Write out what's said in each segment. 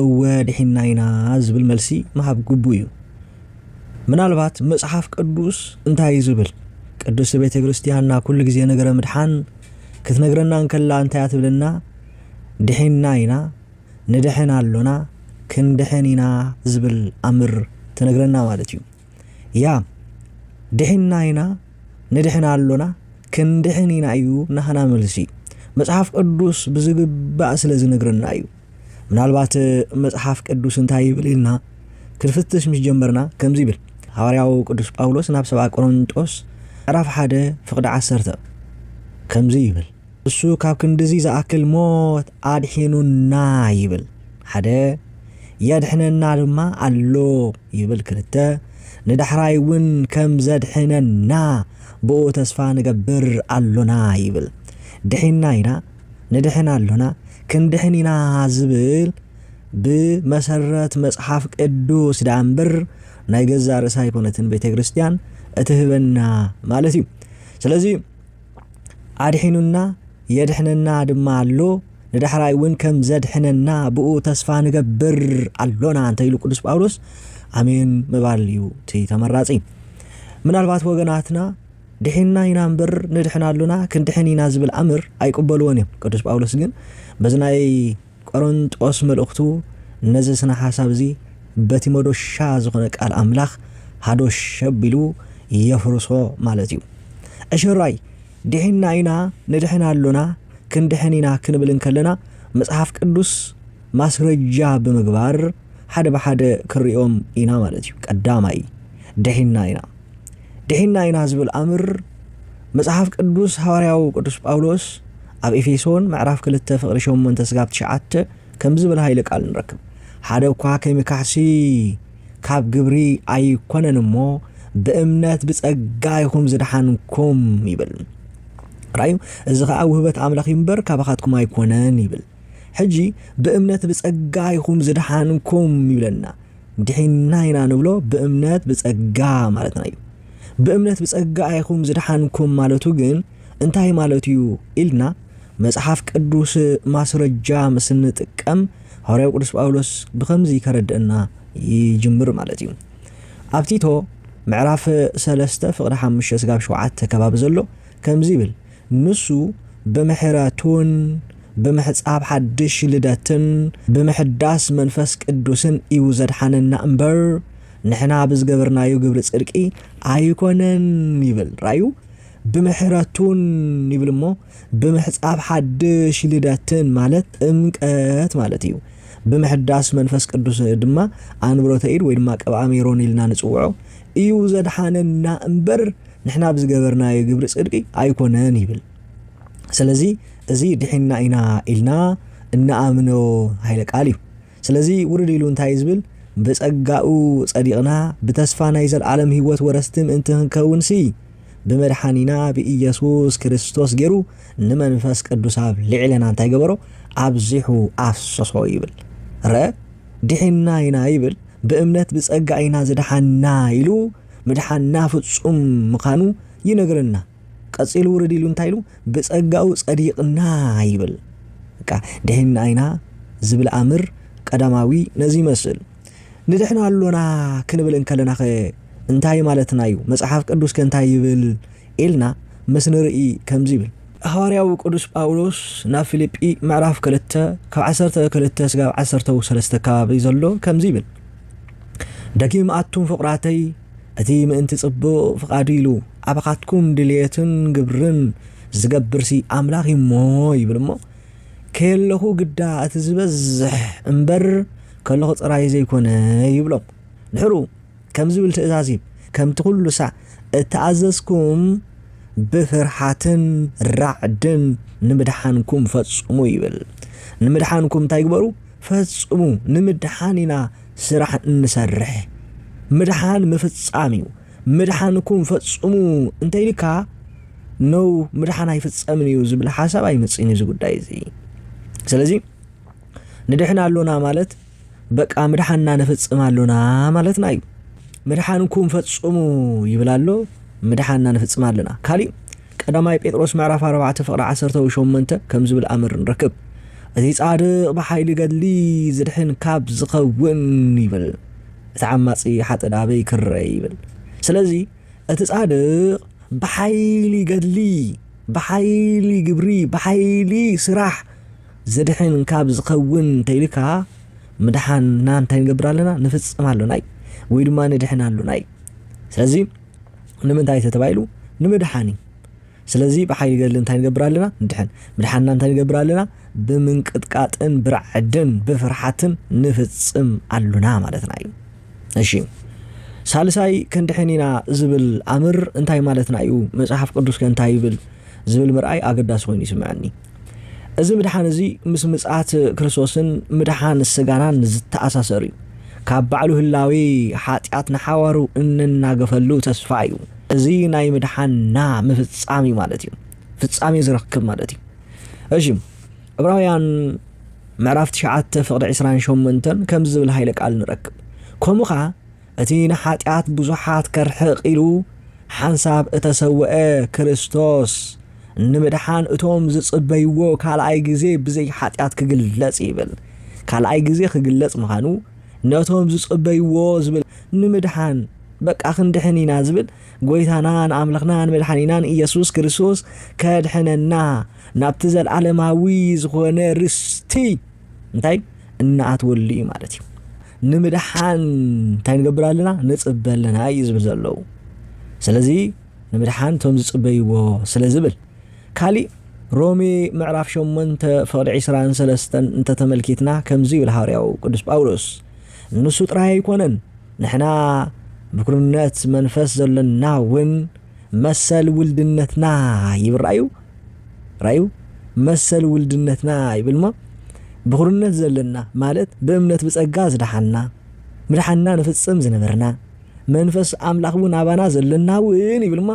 እወ ድሒንና ኢና ዝብል መልሲ ምሃብ ግቡእ እዩ። ምናልባት መጽሓፍ ቅዱስ እንታይ እዩ ዝብል? ቅድስቲ ቤተ ክርስቲያንና ኩሉ ግዜ ነገረ ምድሓን ክትነግረና እንከላ እንታይ እያ ትብለና? ድሒንና ኢና፣ ንድሕን ኣሎና፣ ክንድሕን ኢና ዝብል ኣምር ትነግረና ማለት እዩ። ያ ድሒንና ኢና፣ ንድሕን ኣሎና፣ ክንድሕን ኢና እዩ ናህና መልሲ። መጽሓፍ ቅዱስ ብዝግባእ ስለ ዝነግረና እዩ። ምናልባት መጽሓፍ ቅዱስ እንታይ ይብል ኢልና ክንፍትሽ ምስ ጀመርና ከምዚ ይብል ሃዋርያው ቅዱስ ጳውሎስ ናብ ሰብኣ ቆሮንጦስ ዕራፍ ሓደ ፍቕዲ ዓሰርተ ከምዚ ይብል እሱ ካብ ክንድዚ ዝኣክል ሞት ኣድሒኑና ይብል ሓደ የድሕነና ድማ ኣሎ ይብል ክልተ ንዳሕራይ እውን ከም ዘድሕነና ብኡ ተስፋ ንገብር ኣሎና ይብል ድሒና ኢና ንድሕን ኣሎና፣ ክንድሕን ኢና ዝብል ብመሰረት መጽሓፍ ቅዱስ ደኣ እምበር ናይ ገዛ ርእሳ ኣይኮነትን ቤተ ክርስቲያን እትህበና ማለት እዩ። ስለዚ ኣድሒኑና የድሕነና ድማ ኣሎ ንዳሕራይ እውን ከም ዘድሕነና ብኡ ተስፋ ንገብር ኣሎና እንተ ኢሉ ቅዱስ ጳውሎስ ኣሜን ምባል እዩ እቲ ተመራጺ። ምናልባት ወገናትና ድሒንና ኢና እምበር ንድሕን ኣሎና፣ ክንድሕን ኢና ዝብል ኣምር ኣይቅበልዎን እዮም። ቅዱስ ጳውሎስ ግን በዚ ናይ ቆሮንጦስ መልእኽቱ ነዚ ስነ ሓሳብ እዚ በቲ መዶሻ ዝኾነ ቃል ኣምላኽ ሃዶሽ ኣቢሉ የፍርሶ ማለት እዩ። ዕሽራይ ድሒንና ኢና፣ ንድሕን ኣሎና፣ ክንድሕን ኢና ክንብል እንከለና መጽሓፍ ቅዱስ ማስረጃ ብምግባር ሓደ ብሓደ ክንርእዮም ኢና ማለት እዩ። ቀዳማይ ድሒንና ኢና። ድሒንና ኢና ዝብል ኣምር መጽሓፍ ቅዱስ ሃዋርያው ቅዱስ ጳውሎስ ኣብ ኤፌሶን ምዕራፍ ክልተ ፍቕሪ ሸሞንተ ስጋብ ትሽዓተ ከም ዝብል ሃይለ ቃል ንረክብ ሓደ እኳ ከይምካሕሲ ካብ ግብሪ ኣይኮነን እሞ ብእምነት ብጸጋ ይኹም ዝደሓንኩም ይብል ራእዩ እዚ ኸዓ ውህበት ኣምላኽ እዩ እምበር ካባኻትኩም ኣይኮነን ይብል ሕጂ ብእምነት ብጸጋ ይኹም ዝደሓንኩም ይብለና ድሒንና ኢና ንብሎ ብእምነት ብጸጋ ማለትና እዩ። ብእምነት ብጸጋ ኢኹም ዝደሓንኩም ማለቱ ግን እንታይ ማለት እዩ ኢልና መጽሓፍ ቅዱስ ማስረጃ ምስ እንጥቀም ሃዋርያው ቅዱስ ጳውሎስ ብኸምዚ ከረድእና ይጅምር ማለት እዩ። ኣብ ቲቶ ምዕራፍ ሰለስተ ፍቕዲ ሓሙሽተ ስጋብ ሸውዓተ ከባቢ ዘሎ ከምዚ ይብል ንሱ ብምሕረቱን ብምሕጻብ ሓድሽ ልደትን ብምሕዳስ መንፈስ ቅዱስን እዩ ዘድሓነና እምበር ንሕና ብዝገበርናዮ ግብሪ ጽድቂ ኣይኮነን ይብል ራዩ ብምሕረቱን ይብል እሞ ብምሕጻብ ሓድሽ ልደትን ማለት ጥምቀት ማለት እዩ ብምሕዳስ መንፈስ ቅዱስ ድማ ኣንብሮተ ኢድ ወይ ድማ ቅብኣ ሜሮን ኢልና ንጽውዖ እዩ ዘድሓነና እምበር ንሕና ብዝገበርናዮ ግብሪ ጽድቂ ኣይኮነን ይብል። ስለዚ እዚ ድሒንና ኢና ኢልና እንኣምኖ ኃይለ ቃል እዩ። ስለዚ ውርድ ኢሉ እንታይ እዩ ዝብል ብጸጋኡ ጸዲቕና ብተስፋ ናይ ዘለዓለም ሕይወት ወረስቲ ምእንቲ ክንከውንሲ ብመድሓኒና ብኢየሱስ ክርስቶስ ገይሩ ንመንፈስ ቅዱስ ኣብ ልዕለና እንታይ ገበሮ ኣብዚሑ ኣፍሰሶ ይብል። ረ ድሒንና ኢና ይብል ብእምነት ብጸጋ ኢና ዝደሓንና ኢሉ ምድሓንና ፍጹም ምኻኑ ይነግረና። ቀጺሉ ውርድ ኢሉ እንታይ ኢሉ ብጸጋኡ ጸዲቅና ይብል። በቃ ድሒንና ኢና ዝብል ኣምር ቀዳማዊ ነዚ ይመስል። ንድሕን ኣሎና ክንብል እንከለናኸ እንታይ ማለትናዩ? መጽሓፍ ቅዱስከ እንታይ ይብል? ኢልና ምስ ንርኢ ከምዚ ይብል። ሃዋርያዊ ቅዱስ ጳውሎስ ናብ ፊልጲ ምዕራፍ ክልተ ካብ ዓሰርተ ክልተ ስጋብ ዓሰርተው ሰለስተ ከባቢ ዘሎ ከምዚ ይብል ደጊም ኣቱም ፍቕራተይ እቲ ምእንቲ ጽቡቕ ፍቓዱ ኢሉ ኣባኻትኩም ድልየትን ግብርን ዝገብርሲ ኣምላኽ እዩ እሞ ይብል እሞ ከየለኹ ግዳ እቲ ዝበዝሕ እምበር ከለኹ ጥራይ ዘይኮነ ይብሎም ድሕሩ ከም ዝብል ትእዛዝ ሂብ፣ ከምቲ ዅሉ ሳዕ እተኣዘዝኩም፣ ብፍርሃትን ራዕድን ንምድሓንኩም ፈጽሙ ይብል። ንምድሓንኩም እንታይ ግበሩ? ፈጽሙ። ንምድሓን ኢና ስራሕ እንሰርሕ። ምድሓን ምፍጻም እዩ። ምድሓንኩም ፈጽሙ እንተ ኢልካ ነው ምድሓን ኣይፍጸምን እዩ ዝብል ሓሳብ ኣይመጽእን እዩ እዚ ጉዳይ እዚ። ስለዚ ንድሕን ኣሎና ማለት በቃ ምድሓንና ንፍጽም ኣሎና ማለትና እዩ። ምድሓንኩም ፈጽሙ ይብል ኣሎ፣ ምድሓንና ንፍጽም ኣለና። ካሊእ ቀዳማይ ጴጥሮስ ምዕራፍ 4 ፍቕሪ 18 ከም ዝብል ኣምር ንረክብ እቲ ጻድቕ ብሓይሊ ገድሊ ዝድሕን ካብ ዝኸውን ይብል እቲ ዓማጺ ሓጢ ድኣ በይ ክረ ይብል ስለዚ እቲ ጻድቕ ብሓይሊ ገድሊ ብሓይሊ ግብሪ ብሓይሊ ስራሕ ዘድሕን እንካብ ዝከውን እንተይልካ ምድሓንና እንታይ ንገብር ኣለና ንፍጽም ኣሎና እዩ ወይ ድማ ንድሕን ኣሎና እዩ ስለዚ ንምንታይ ተተባሂሉ ንምድሓን እዩ ስለዚ ብሓይሊ ገድሊ እንታይ ንገብር ኣለና ንድሕን ምድሓንና እንታይ ንገብር ኣለና ብምንቅጥቃጥን ብርዕድን ብፍርሓትን ንፍጽም ኣሉና ማለትና እዩ እሺ ሳልሳይ ክንድሕን ኢና ዝብል ኣምር እንታይ ማለትና እዩ መጽሓፍ ቅዱስ ከ እንታይ ይብል ዝብል ምርኣይ ኣገዳሲ ኮይኑ ይስምዐኒ እዚ ምድሓን እዚ ምስ ምጽኣት ክርስቶስን ምድሓን ስጋናን ዝተኣሳሰር እዩ። ካብ ባዕሉ ህላዌ ሓጢኣት ንሓዋሩ እንናገፈሉ ተስፋ እዩ። እዚ ናይ ምድሓንና ምፍጻም እዩ ማለት እዩ። ፍጻሜ ዝረክብ ማለት እዩ። እሺ ዕብራውያን ምዕራፍ ትሽዓተ ፍቕዲ ዕስራን ሸሞንተን ከምዚ ዝብል ሃይለ ቃል ንረክብ ከምኡ ከኣ እቲ ንሓጢኣት ብዙሓት ከርሕቕ ኢሉ ሓንሳብ እተሰውኤ ክርስቶስ፣ ንምድሓን እቶም ዚጽበይዎ ካልኣይ ግዜ ብዘይ ሓጢኣት ኪግለጽ ይብል። ካልኣይ ግዜ ኺግለጽ ምዃኑ፣ ነቶም ዚጽበይዎ ዚብል ንምድሓን፣ በቃ ክንድሕን ኢና ዚብል ጐይታናን ኣምላኽናን መድሓኒናን ኢየሱስ ክርስቶስ ከድሕነና ናብቲ ዘለዓለማዊ ዝኾነ ርስቲ እንታይ እናኣትወሉ እዩ ማለት እዩ። ንምድሓን እንታይ ንገብር ኣለና ንጽበ ኣለና እዩ ዝብል ዘለዉ ስለዚ ንምድሓን እቶም ዝጽበይዎ ስለ ዝብል ካሊእ ሮሜ ምዕራፍ 8 ፍቕዲ 23 እንተተመልኪትና ከምዚ ይብል ሃዋርያው ቅዱስ ጳውሎስ ንሱ ጥራይ ኣይኮነን ንሕና ምክርነት መንፈስ ዘለና እውን መሰል ውልድነትና ይብራዩ ራዩ መሰል ውልድነትና ይብልሞ ብኹርነት ዘለና ማለት ብእምነት ብጸጋ ዝደሓንና ምድሓንና ንፍጽም ዝነበርና መንፈስ ኣምላኽ እውን ኣባና ዘለና እውን ይብልሞ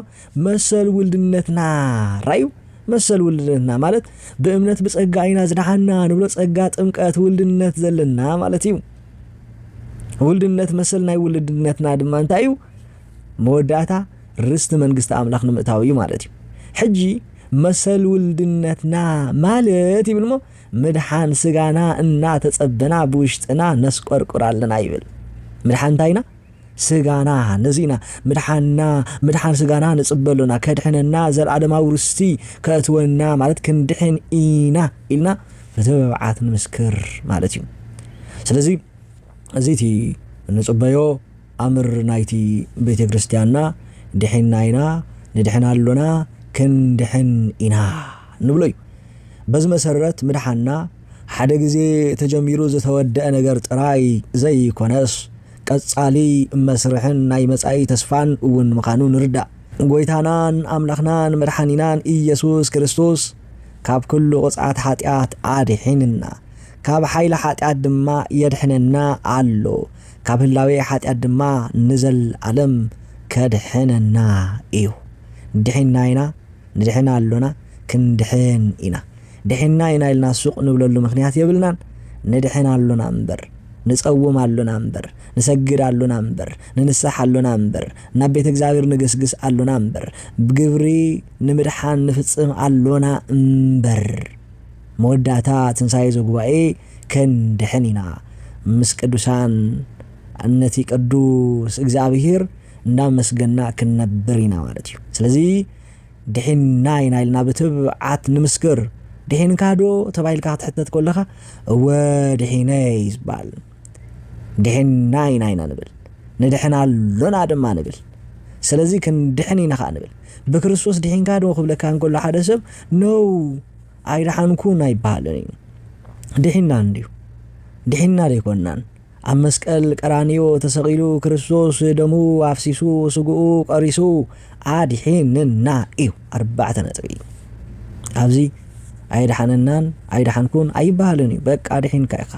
መሰል ውልድነትና ራዩ መሰል ውልድነትና ማለት ብእምነት ብጸጋ ኢና ዝደሓንና ንብሎ ጸጋ ጥምቀት ውልድነት ዘለና ማለት እዩ ውልድነት መሰል ናይ ውልድነትና ድማ እንታይ እዩ መወዳእታ ርስቲ መንግስቲ ኣምላኽ ንምእታው እዩ ማለት እዩ። ሕጂ መሰል ውልድነትና ማለት ይብል እሞ ምድሓን ስጋና እናተጸበና ብውሽጥና ነስቆርቁር ኣለና ይብል። ምድሓን እንታይ ኢና? ስጋና ነዚ ኢና ምድሓንና ምድሓን ስጋና ንጽበ ኣሎና ከድሕነና ዘለኣለማዊ ርስቲ ከእትወና ማለት ክንድሕን ኢና ኢልና ብትብዓት ንምስክር ማለት እዩ። ስለዚ እዚ እቲ ንጽበዮ ኣምር ናይቲ ቤተ ክርስቲያንና ድሒንና ኢና፣ ንድሕን ኣሎና፣ ክንድሕን ኢና ንብሎ እዩ። በዚ መሰረት ምድሓንና ሓደ ግዜ ተጀሚሩ ዝተወደኣ ነገር ጥራይ ዘይኰነስ ቀጻሊ መስርሕን ናይ መጻኢ ተስፋን እውን ምዃኑ ንርዳእ። ጐይታናን ኣምላኽናን መድሓኒናን ኢየሱስ ክርስቶስ ካብ ኵሉ ቕጽዓት ሓጢኣት ኣድሒንና። ካብ ሓይሊ ሓጢኣት ድማ የድሕነና ኣሎ፣ ካብ ህላዌ ሓጢኣት ድማ ንዘለኣለም ከድሕነና እዩ። ድሒንና ኢና፣ ንድሕን ኣሎና፣ ክንድሕን ኢና። ድሒንና ኢና ኢልና ሱቕ ንብለሉ ምኽንያት የብልናን። ንድሕን ኣሎና እምበር፣ ንጸውም ኣሎና እምበር፣ ንሰግድ ኣሎና እምበር፣ ንንሳሕ ኣሎና እምበር፣ ናብ ቤት እግዚኣብሔር ንግስግስ ኣሎና እምበር፣ ግብሪ ንምድሓን ንፍጽም ኣሎና እምበር። መወዳእታ ትንሣኤ ዘጉባኤ ከንድኅን ኢና ምስ ቅዱሳን ነቲ ቅዱስ እግዚኣብሔር እንዳመስገና ክንነብር ኢና ማለት እዩ ስለዚ ድኂንና ኢና ኢልና ብትብዓት ንምስክር ድኂንካዶ ተባሂልካ ክትሕተት ከለኻ እወ ድኂነ እዩ ዝባል ድኂንና ኢና ኢና ንብል ንድኅን ኣሎና ድማ ንብል ስለዚ ክንድኅን ኢና ኸዓ ንብል ብክርስቶስ ድኂንካዶ ክብለካ እንከሎ ሓደ ሰብ ነው ኣይደሓንኩን ኣይበሃልን እዩ። ድሒንና እንድዩ። ድሒንና ደይኮንናን። ኣብ መስቀል ቀራንዮ ተሰቒሉ ክርስቶስ ደሙ ኣፍሲሱ ስግኡ ቀሪሱ ኣድሒንና እዩ። ኣርባዕተ ነጥቢ። ኣብዚ ኣይደሓነናን ኣይደሓንኩን ኣይበሃልን እዩ። በቃ ድሒንካ ኢኻ።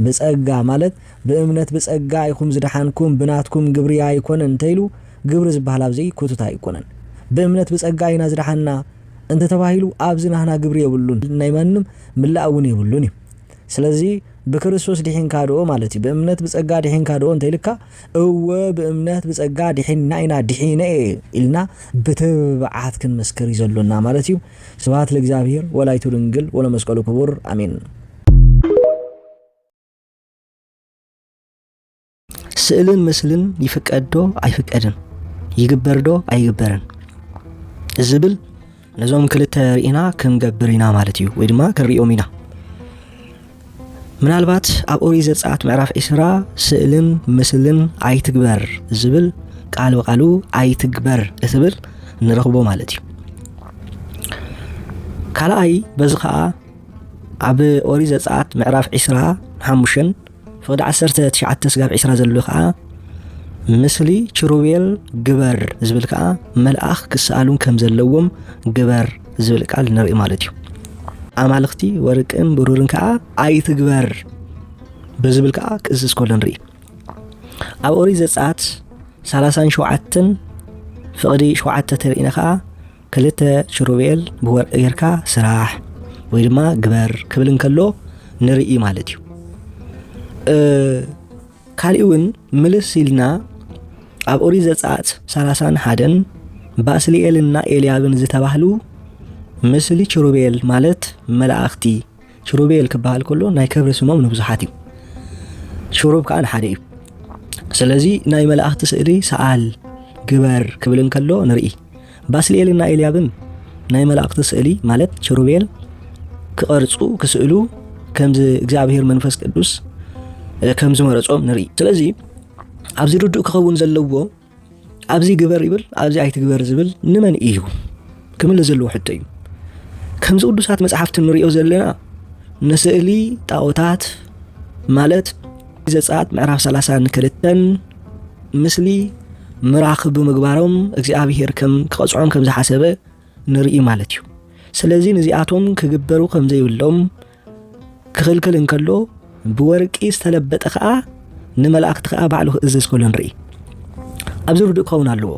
ብጸጋ ማለት ብእምነት ብጸጋ ኢኹም ዝደሓንኩም ብናትኩም ግብሪ ኣይኮነን እንተይሉ ግብሪ ዝበሃል ኣብዚ ኩቱት ኣይኮነን። ብእምነት ብጸጋ ኢና ዝደሓንና እንተ ተባሂሉ ኣብዚ ናህና ግብሪ የብሉን ናይ ማንም ምላእ እውን የብሉን እዩ ስለዚ ብክርስቶስ ዲሒንካ ዶ ማለት እዩ ብእምነት ብጸጋ ዲሒንካ ዶ እንተ ኢልካ እወ ብእምነት ብጸጋ ዲሒንና ኢና ዲሒነ እየ ኢልና ብትብዓት ክንምስክር እዩ ዘሎና ማለት እዩ ስብሃት ለእግዚኣብሔር ወላይቱ ድንግል ወለመስቀሉ ክቡር ኣሜን ስእልን ምስልን ይፍቀድዶ ኣይፍቀድን ይግበርዶ ኣይግበርን ዝብል ነዞም ክልተ ርኢና ክንገብር ኢና ማለት እዩ ወይ ድማ ክንሪኦም ኢና ምናልባት ኣብ ኦሪት ዘፀኣት ምዕራፍ ዒስራ ስእልን ምስልን ኣይትግበር ዝብል ቃል ብቃሉ ኣይትግበር እትብል ንረኽቦ ማለት እዩ ካልኣይ በዚ ከዓ ኣብ ኦሪት ዘፀኣት ምዕራፍ ዒስራ ሓሙሽን ፍቕዲ ዓሰርተ ትሽዓተ ስጋብ ዒስራ ዘሎ ከኣ ምስሊ ችሩቤል ግበር ዝብል ከኣ መልኣኽ ክሰኣሉን ከም ዘለዎም ግበር ዝብል ቃል ንርኢ ማለት እዩ ኣማልኽቲ ወርቅን ብሩርን ከኣ ኣይትግበር ብዝብል ከኣ ክእዝዝ ከሎ ንርኢ ኣብ ኦሪት ዘጸኣት ሰላሳን ሸውዓትን ፍቕዲ ሸውዓተ ተርእና ከኣ ክልተ ሽሩቤል ብወርቂ ጌርካ ስራሕ ወይ ድማ ግበር ክብል እንከሎ ንርኢ ማለት እዩ ካልእ እውን ምልስ ኢልና ኣብ ኦሪ ዘፀኣት ሰላሳን ሓደን ባስልኤልና ኤልያብን ዝተባህሉ ምስሊ ችሩቤል ማለት መላእኽቲ ኪሩቤል ክበሃል ከሎ ናይ ክብሪ ስሞም ንብዙሓት እዩ፣ ሽሩብ ከዓ ንሓደ እዩ። ስለዚ ናይ መላእኽቲ ስእሊ ሰኣል ግበር ክብል እንከሎ ንርኢ። ባስልኤልን ናይ ኤልያብን ናይ መላእኽቲ ስእሊ ማለት ችሩቤል ክቐርጹ ክስእሉ ከምዚ እግዚኣብሔር መንፈስ ቅዱስ ከም ዝመረጾም ንርኢ። ስለዚ ኣብዚ ርዱእ ክኸውን ዘለዎ ኣብዚ ግበር ይብል ኣብዚ ኣይትግበር ዝብል ንመን እዩ ክምለ ዘለዎ ሕቶ እዩ ከምዚ ቅዱሳት መፅሓፍቲ ንሪኦ ዘለና ንስእሊ ጣዖታት ማለት ዘፀኣት ምዕራፍ 3 ንክልተን ምስሊ ምራኽ ብምግባሮም እግዚኣብሄር ከም ክቐፅዖም ከም ዝሓሰበ ንርኢ ማለት እዩ ስለዚ ንዚኣቶም ክግበሩ ከም ዘይብሎም ክኽልክል እንከሎ ብወርቂ ዝተለበጠ ከዓ ንመላእክቲ ከዓ ባዕሉ ክእዘዝ ከሎ ንርኢ ኣብዚ ርዱእ ክኸውን ኣለዎ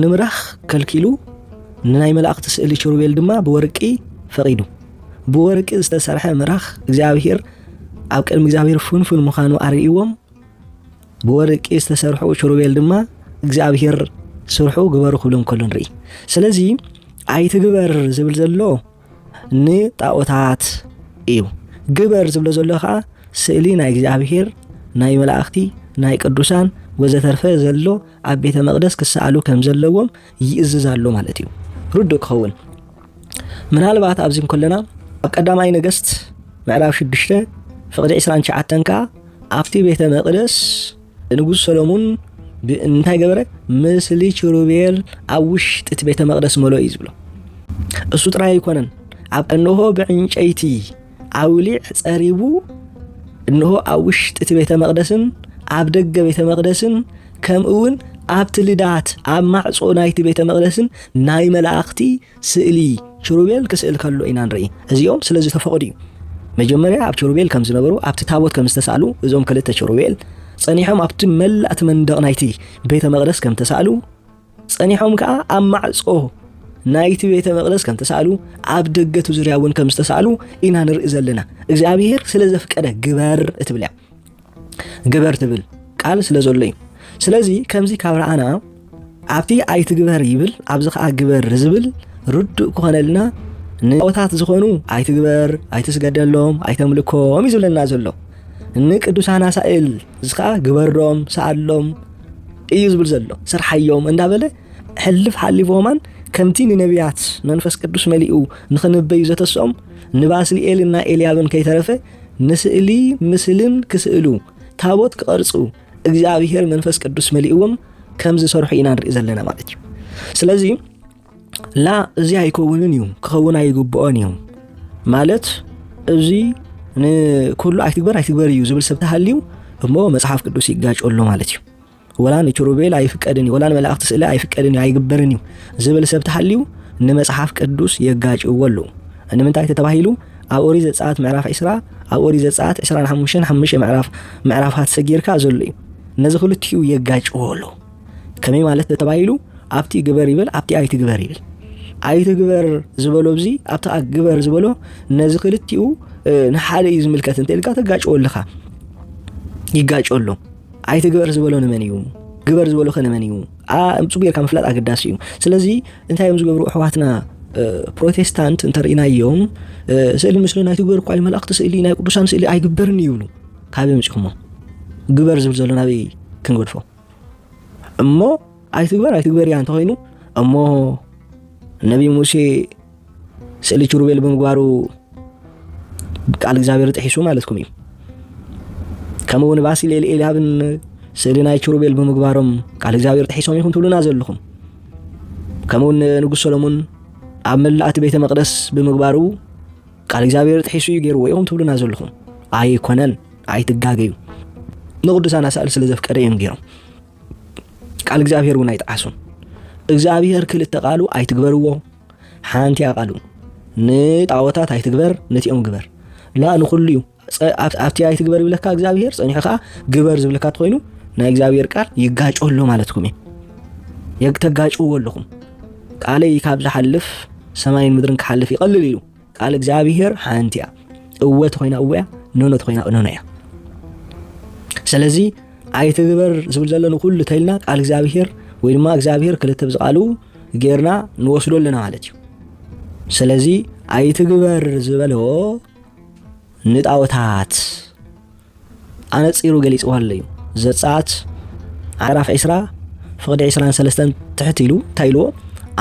ንምራኽ ከልኪሉ ንናይ መላእክቲ ስእሊ ኪሩቤል ድማ ብወርቂ ፈቒዱ ብወርቂ ዝተሰርሐ ምራኽ እግዚኣብሄር ኣብ ቅድሚ እግዚኣብሄር ፍንፉን ምዃኑ ኣርእይዎም ብወርቂ ዝተሰርሑ ኪሩቤል ድማ እግዚኣብሄር ስርሑ ግበሩ ክብሎም ከሎ ንርኢ ስለዚ ኣይትግበር ዝብል ዘሎ ንጣኦታት እዩ ግበር ዝብሎ ዘሎ ከዓ ስእሊ ናይ እግዚኣብሄር ናይ መላእኽቲ ናይ ቅዱሳን ወዘተርፈ ዘሎ ኣብ ቤተ መቕደስ ክሰኣሉ ከም ዘለዎም ይእዝዝ ኣሎ ማለት እዩ ርዱእ ክኸውን ምናልባት ኣብዚ እንከለና ኣብ ቀዳማይ ነገስት ምዕራፍ 6 ፍቕዲ 29 ከዓ ኣብቲ ቤተ መቕደስ ንጉስ ሰሎሙን እንታይ ገበረ? ምስሊ ችሩቤል ኣብ ውሽጢ እቲ ቤተ መቅደስ መሎ እዩ ዝብሎ። እሱ ጥራይ ኣይኮነን፣ ኣብ እንሆ ብዕንጨይቲ ኣውሊዕ ጸሪቡ እንሆ ኣብ ውሽጢ እቲ ቤተ መቅደስን ኣብ ደገ ቤተ መቅደስን ከምኡውን ኣብቲ ልዳት ኣብ ማዕጾ ናይቲ ቤተ መቅደስን ናይ መላእኽቲ ስእሊ ኪሩቤል ክስእል ከሎ ኢና ንርኢ። እዚኦም ስለ ዝተፈቕዱ እዩ። መጀመርያ ኣብ ኪሩቤል ከም ዝነበሩ ኣብቲ ታቦት ከም ዝተሳእሉ እዞም ክልተ ኪሩቤል ጸኒሖም ኣብቲ መላእ እቲ መንደቕ ናይቲ ቤተ መቕደስ ከም ተሳእሉ ጸኒሖም ከኣ ኣብ ማዕጾ ናይቲ ቤተ መቕደስ ከም ተሳእሉ ኣብ ደገቱ ዙርያ እውን ከም ዝተሳእሉ ኢና ንርኢ ዘለና እግዚኣብሄር ስለ ዘፍቀደ ግበር እትብል እያ ግበር ትብል ቃል ስለ ዘሎ እዩ ስለዚ ከምዚ ካብ ረኣና ኣብቲ ኣይትግበር ይብል ኣብዚ ከዓ ግበር ዝብል ርዱእ ክኾነልና ንጣዖታት ዝኾኑ ኣይትግበር ኣይትስገደሎም ኣይተምልኮም እዩ ዝብለና ዘሎ ንቅዱሳን ኣሳእል እዚ ከዓ ግበሮም ሰኣሎም እዩ ዝብል ዘሎ ስርሓዮም እንዳበለ ሕልፍ ሓሊፎማን ከምቲ ንነቢያት መንፈስ ቅዱስ መሊኡ ንኽንበዩ ዘተስኦም ንባስልኤልን ናይ ኤልያብን ከይተረፈ ንስእሊ ምስልን ክስእሉ፣ ታቦት ክቐርጹ፣ እግዚኣብሄር መንፈስ ቅዱስ መሊእዎም ከም ዝሰርሑ ኢና ንርኢ ዘለና ማለት እዩ። ስለዚ ላ እዚ ኣይከውንን እዩ ክኸውን ኣይግብኦን እዩ ማለት እዚ ንኩሉ ኣይትግበር ኣይትግበር እዩ ዝብል ሰብ ተሃልዩ እሞ መጽሓፍ ቅዱስ ይጋጮ ኣሎ ማለት እዩ። ወላ ንኪሩቤል ኣይፍቀድን እዩ፣ ወላ ንመላእኽቲ ስእለ ኣይፍቀድን እዩ፣ ኣይግበርን እዩ ዝብል ሰብ ተሃልዩ ንመጽሓፍ ቅዱስ የጋጭዎ ኣለዉ። ንምንታይ ተተባሂሉ ኣብ ኦሪት ዘጸኣት ምዕራፍ ዕስራ ኣብ ኦሪት ዘጸኣት ዕስራን ሓሙሽተን ሓሙሽተ ምዕራፍ ምዕራፋት ሰጊርካ ዘሎ እዩ። ነዚ ክልቲኡ የጋጭዎ ኣለዉ። ከመይ ማለት ተተባሂሉ ኣብቲ ግበር ይብል ኣብቲ ኣይትግበር ይብል ኣይትግበር ዝበሎ እዚ ኣብቲ ግበር ዝበሎ ነዚ ክልቲኡ ንሓደ እዩ ዝምልከት እንተ ኢልካ ተጋጭዎ ኣለኻ ይጋጮ ኣሎ። ኣይትግበር ዝበሎ ንመን እዩ? ግበር ዝበሎ ከ ንመን እዩ? ብፁ ጌርካ ምፍላጥ ኣገዳሲ እዩ። ስለዚ እንታይ እዮም ዝገብሩ ኣሕዋትና ፕሮቴስታንት እንተርእናዮም ስእሊ ምስሊ ናይ ትግበር እኳ መላእክቲ ስእሊ ናይ ቅዱሳን ስእሊ ኣይግበርን ይብሉ ካበይ ምፅኹሞ ግበር ዝብል ዘሎ ናበይ ክንገድፎ እሞ ኣይትግበር ኣይትግበር እያ እንተኮይኑ እሞ ነቢ ሙሴ ስእሊ ኪሩቤል ብምግባሩ ቃል እግዚኣብሔር ጥሒሱ ማለትኩም እዩ ከምኡ እውን ባሲሌል ኤልያብን ስእሊ ናይ ኪሩቤል ብምግባሮም ቃል እግዚኣብሔር ጥሒሶም ይኹን ትብሉና ዘለኹም ከምኡውን ንጉሥ ሰሎሞን ኣብ መላእቲ ቤተ መቅደስ ብምግባሩ ቃል እግዚኣብሔር ጥሒሱ እዩ ገይርዎ ኢኹም ትብሉና ዘለኹም ኣይኮነን ኣይትጋገዩ ንቅዱሳን ኣሳእል ስለ ዘፍቀደ እዮም ገይሮም ቃል እግዚኣብሔር እውን ኣይጠዓሱን እግዚኣብሔር ክልተ ቃሉ ኣይትግበርዎ ሓንቲ ኣቃሉ ንጣወታት ኣይትግበር ነቲኦም ግበር ላ ንኩሉ እዩ ኣብቲ ኣይትግበር ይብለካ እግዚኣብሄር ፀኒሑ ከዓ ግበር ዝብለካ ትኮይኑ ናይ እግዚኣብሄር ቃል ይጋጮ ኣሎ ማለትኩም እዩ የግተጋጭዎ ኣለኹም ቃለይ ካብ ዝሓልፍ ሰማይን ምድርን ክሓልፍ ይቐልል እዩ ቃል እግዚኣብሔር ሓንቲ እያ እወ ተኾይና እወ እያ ኖኖ ተኾይና ኖኖ እያ ስለዚ ኣይትግበር ዝብል ዘሎ ንኩሉ ተልና ቃል እግዚኣብሔር ወይ ድማ እግዚኣብሔር ክልተ ብዝቃሉ ጌርና ንወስዶ ኣለና ማለት እዩ ስለዚ ኣይትግበር ዝበሎ ንጣኦታት ኣነጺሩ ገሊጽዎ ኣሎ እዩ። ዘጸኣት ዓራፍ ዒስራ ፍቕዲ ዒስራን ሰለስተን ትሕት ኢሉ እንታይ ኢልዎ?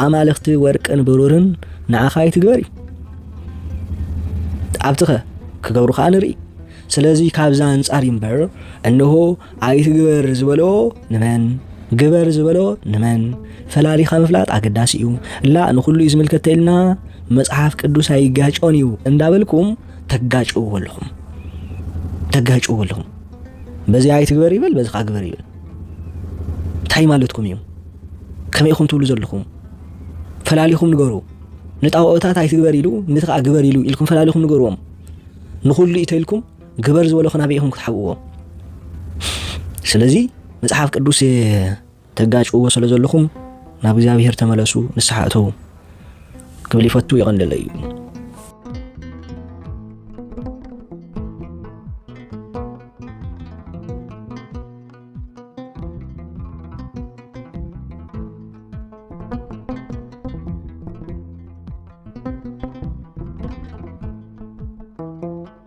ኣማልኽቲ ወርቅን ብሩርን ንዓኻ ኣይትግበር እዩ። ኣብቲ ኸ ክገብሩ ኸኣ ንርኢ። ስለዚ ካብዛ ኣንጻር እምበር እንሆ ኣይትግበር ዝበሎ ንመን ግበር ዝበሎ ንመን ፈላሊኻ ምፍላጥ ኣገዳሲ እዩ ላ ንኹሉ እዩ ዝምልከት ተኢልና መጽሓፍ ቅዱስ ኣይጋጮን እዩ እንዳበልኩም ተጋጭዎ ኣለኹም ተጋጭዎ ኣለኹም በዚ ኣይትግበር ይበል በዚ ካ ግበር ይበል እንታይ ማለትኩም እዩ ከመይ ኢኹም ትብሉ ዘለኹም ፈላሊኹም ንገሩ ንጣውኦታት ኣይትግበር ኢሉ ነቲ ከዓ ግበር ኢሉ ኢልኩም ፈላሊኹም ንገርዎም ንኹሉ እዩ ተኢልኩም ግበር ዝበለኹ ናበይ ኢኹም ክትሓብእዎ? ስለዚ መጽሓፍ ቅዱስ ተጋጭዎ ስለ ዘለኹም ናብ እግዚኣብሔር ተመለሱ፣ ንስሓ እተዉ ክብል ይፈቱ ይቐንደለ እዩ።